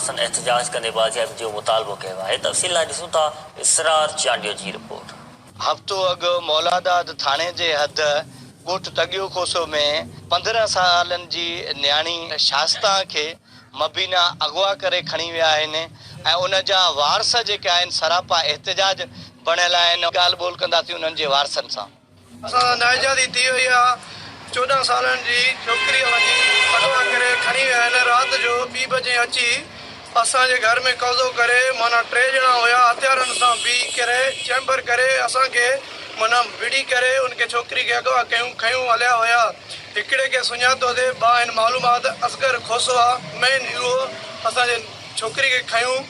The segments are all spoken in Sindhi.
سندن احتجاج ڪندي بازيابي جو مطالبو ڪيو آهي تفصيل لاء ڏسون ٿا اسرار چانڊيو جي رپورٽ. هفتو اڳ مولاداد ٿاڻي جي حد ڳوٺ تڳيو کوسو ۾ پندرهن سالن جي نياڻي شاستان کي مبينا اغوا ڪري کڻي ويا آهن ۽ ان جا وارث جيڪي آهن سراپا احتجاج بڻيل آهن ڳالهه ٻولهه ڪنداسين انهن جي وارثن سان. اسان سان نااجازي ٿي وئي آ چوڏهن سالن جي ڇوڪريء وڃي اغوا ڪري کڻي ويا آهن رات جو ٻي بجي اچي اسان جي گهر ۾ قبضو ڪري معنيٰ ٽي ڄڻا هيا هٿيارن سان بي ڪري چيمبر ڪري اسان کي معنيٰ ڀڙي ڪري ان کي ڇوڪري کي اغوا ڪيون کنيون هليا ويا هڪڙي کي سڃاتو تي باهن معلومات اصغر کوسوا مين اهو اسان جي ڇوڪري کي کنيون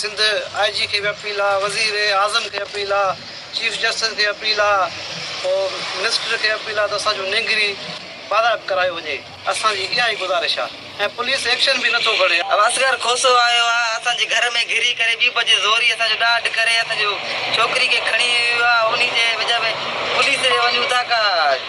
سنڌ آء جي کي به اپيل آ وزير اعظم کي اپيل آ چيف جسٽس کي اپيل آ هوم منسٽر کي اپيل آ ته اسان جون نينگري بارائب ڪرايو وڃي اسان جي اها ئي گذارش آ ۽ پوليس ايڪشن به نٿو کڻي. اصغر کوسو آيو آ اسان جي گهر ۾ گهري ڪري ٻي بجي زوري اسان جو ڏاڍ ڪري اسان جو ڇوڪري کي کڻي ويو آ انهي جي وجه ۾ پوليس ڏي وڃون ٿا ڪا.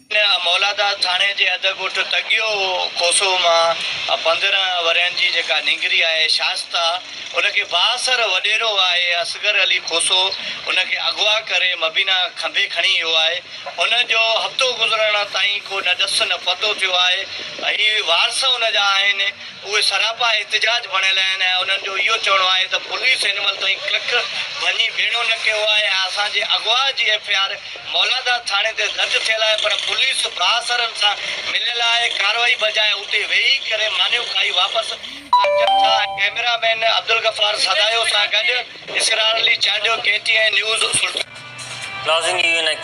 هن مولاداد ٿاڻي جي اڌ ڳوٺ تڳيو کوسو مان پندرهن ورهين جي جيڪا نينگري آهي شائسته ان کي بااثر وڏيرو آهي اصغر علي کوسو ان کي اغوا ڪري مبينا کنڀي کڻي ويو آهي ان جو هفتو گذرڻ تائين ڪو نه ڏس نه پتو ٿيو آهي هي وارث ان جا آهن اهي سراپا احتجاج بڻيل آهن ۽ انهن جو اهو چوڻو آهي ته پوليس هن مهل تائين ڪک ڀڃي ڀيڻو نه ڪيو آهي ۽ اسان جي اغوا جي ايف آء آر مولاداد ٿاڻي تي درج ٿيل آهي پر پوليس بااثرن سان مليل آهي ڪارروائي بجاء اتي ويهي ڪري مانيون کائي واپس اچن ٿا ڪئميرا مين عبدالغفار سدايو سان گڏ Israr Ali Chandio K T N news Sultanpur. ناظرين اهو هي نئين تائين